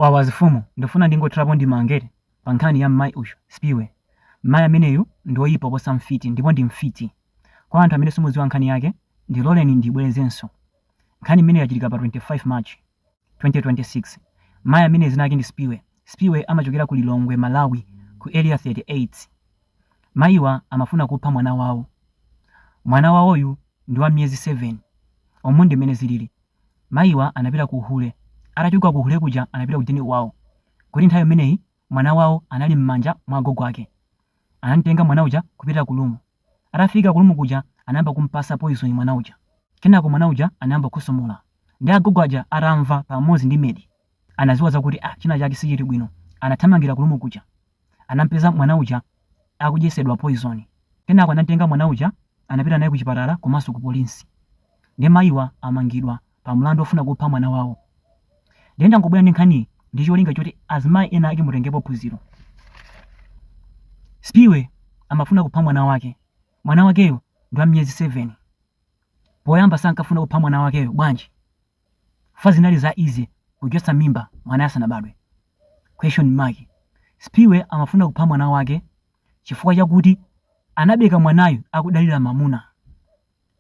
Wawa azifumu ndifuna ndingothirapo ndemanga pa nkhani ya mmayi uyu, Spiwe. Mmayi ameneyu ndi oyipa oposa mfiti ndipo ndi mfiti. Kwa anthu amene simudziwa nkhani yake ndiloleni ndiyibwerezenso. Nkhani imeneyi yachitika pa 25 March, 2026. Mayi ameneyu dzina lake ndi Spiwe. Spiwe amachokera ku Lilongwe, Malawi ku Area 38. Mayiwa amafuna kupha mwana wawo. Mwana wawoyu ndi wa miyezi 7. Umu ndi mmene zilili. Mayiwa anapita ku uhule. Atachoka ku uhule kuja anapita ku deni kwawo. Kuti nthawi imeneyi mwana wawo anali mmanja mwa agogo ake. Anamtenga mwana uja kupita ku lumu. Atafika ku lumu kuja anayamba kumpasa poison mwana uja. Kenako mwana uja anayamba kukhosomola. Nde agogo aja atamva pamodzi ndi medi anaziwa zakuti ah china chake sichili bwino. Anathamangira ku lumu kuja. anamupeza mwana uja akudyesedwa poison kenako anamutenga mwana uja anapita naye kuchipatala komanso ku police nde mayiwa amangidwa pa mlandu ofuna kupha mwana wawo nde ndangobwera ndi nkhaniyi ndi cholinga choti azimayi ena ake mutengepo phunziro spiwe amafuna kupha mwana wake mwana wakeyo ndi wa miyezi 7 poyamba sankafuna kupha mwana wakeyo bwanji chifukwa zinali za easy kuchotsa mimba mwanayo asanabadwe? Question mark. Spiwe amafuna kupha mwana wake chifukwa chakuti anabereka mwanayu akudalira mamuna.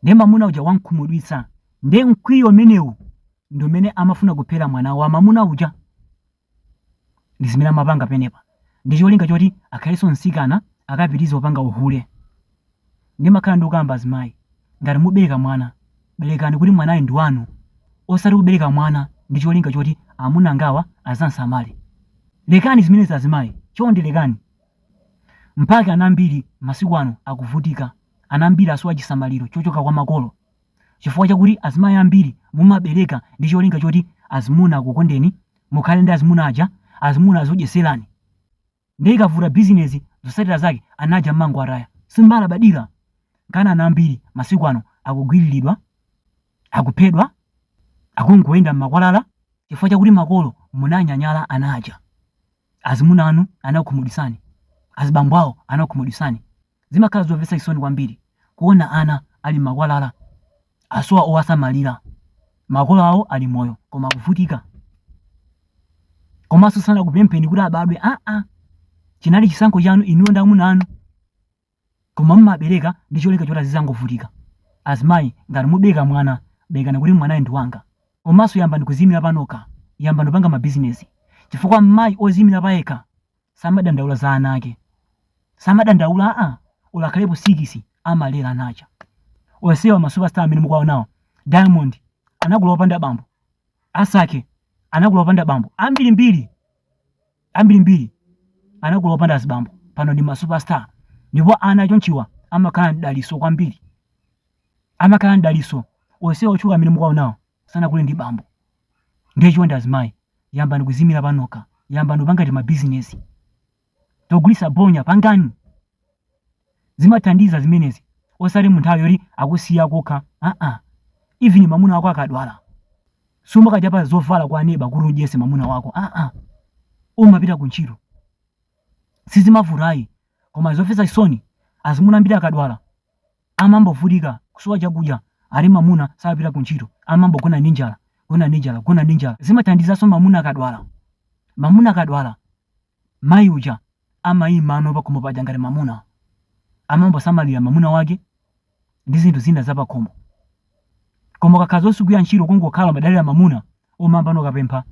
Nde mamuna uja wamkhumudwitsa. Nde mkwiyo umenewu ndi umene amafuna kuphera mwana wa mamuna uja. ndi zimene amapanga penepa ndi cholinga choti akhaleso nsikana akapitize kupanga uhule ndimakhala ndikukamba azimayi ngati mubeleka mwana belekani kuti mwanayo ndi wanu osati kubeleka mwana ndi cholinga choti amuna angawa azamsamale lekani zimenezi azimayi chonde lekani mpake ana ambiri masiku ano akuvutika ana ambiri asowa chisamaliro chochoka kwa makolo Chifukwa chakuti azimayi ambiri mumabereka ndi cholinga choti azimuna akukondeni, mukhale ndi azimuna aja, azimuna azikudyeserani. Ndiye ikavuta bizinezi zotsatira zake ana aja mmangowataya. Simumalabadira? Nkana ana ambiri masiku ano akugwiriridwa, akuphedwa, akungoyenda mmakwalala chifukwa chakuti makolo munanyanyala ana aja. Azimuna anu anakukhumudwitsani. Azibambo awo anakukhumudwitsani. Zimakhala zomvetsa chisoni kwambiri kuona ana ali m'makwalala, asowa owasamalira, makolo awo ali moyo koma akuvutika. Komanso sanakupempheni kuti abadwe aa, chinali chisankho chanu inuyo ndi amuna anu, koma mumabereka ndi cholinga choti azizangovutika. Azimayi, ngati mubereka mwana, berekani kuti mwanayo ndi wanga. Komanso yambani kudziimira panokha, yambani kupanga mabizinezi, chifukwa mayi odziimira payekha samadandaula za ana ake samadandaula a olo atakhalapo sikisi amalera ana aja onsewa masupestar amene mukuwaonawa diamond anakula opanda bambo asake anakula opanda bambo ambirimbiri ambirimbiri anakula opanda azibambo pano ndi masupestar ndipo ana achonchiwa amakhala mdalitso kwambiri amakhala mdalitso onsewa otchuka amene mukuwaonawa sanakule ndi bambo ndiye chonde azimayi yambani kuzimira panokha yambani kupanga timabizinesi togulisa bonya pangani zimathandiza zimenezi osati munthu ayi yoti akusiya kokha aa even mamuna wako akadwala sumakachapa zovala kwa neba kuti udyese mamuna wako aa uzimapita ku ntchito sizimavutayi koma zofesa chisoni azimuna ambiri akadwala Amambovutika kusowa chakudya Ali mamuna sapita kuntchito amambogona ndi njala gona ndi njala gona ndi njala zimathandizanso mamuna akadwala mamuna akadwala mayi uja amaima pakhomo paja ngati mamuna amambosamalira mamuna wake ndi zinthu zina zapakhomo koma ukakhala osagwira ntchito kungokhala umadalira mamuna umayambano ukapempha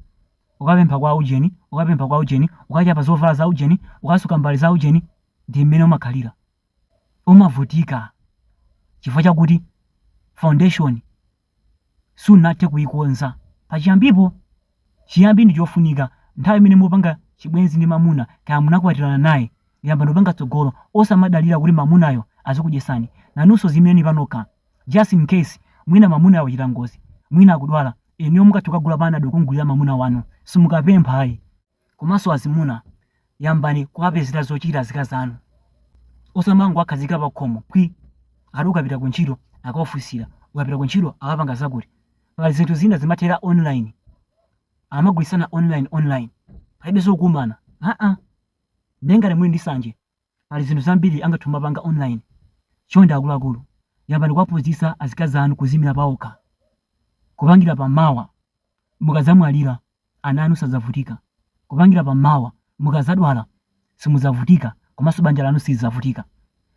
ukapempha kwa ujeni ukapempha kwa ujeni ukachapa zovala za ujeni ukasuka mbale za ujeni ndi mmene umakhalira umavutika chifukwa chakuti foundation sunathe kuikonza pachiyambipo. Chiyambi ndi chofunika. Nthawi imene mukupanga chibwenzi ndi mamuna kaya munakwatirana naye, yambani kupanga tsogolo. Osamadalira kuti mamunayo azikudyetsani. Nanunso ziimireni panokha. Just in case, mwina mamunayo wachita ngozi, mwina akudwala, inuyo mukathe kukagula panado kumgulira mamuna wanu. Simukapempha ayi. Komanso azimuna, yambani kuwapezera zochita azikazi anu. Osamangowakhazika pakhomo phwi! Ati ukapita kuntchito akakufunsira, ukapita kuntchito ukapanga zakuti. Pali zinthu zina zimathera online, akamagulitsana online online, palibenso kukumana. Haa! Ndiye ngati muli ndi sanje Pali zinthu zambiri angathe kumapanga online. Chonde akuluakulu yambani kuwaphunzitsa azikazi anu kuziimira paokha. Kupangira pa mawa mukadzamwalira ana anu sadzavutika. Kupangira pa mawa mukadzadwala simudzavutika komanso banja lanu silidzavutika.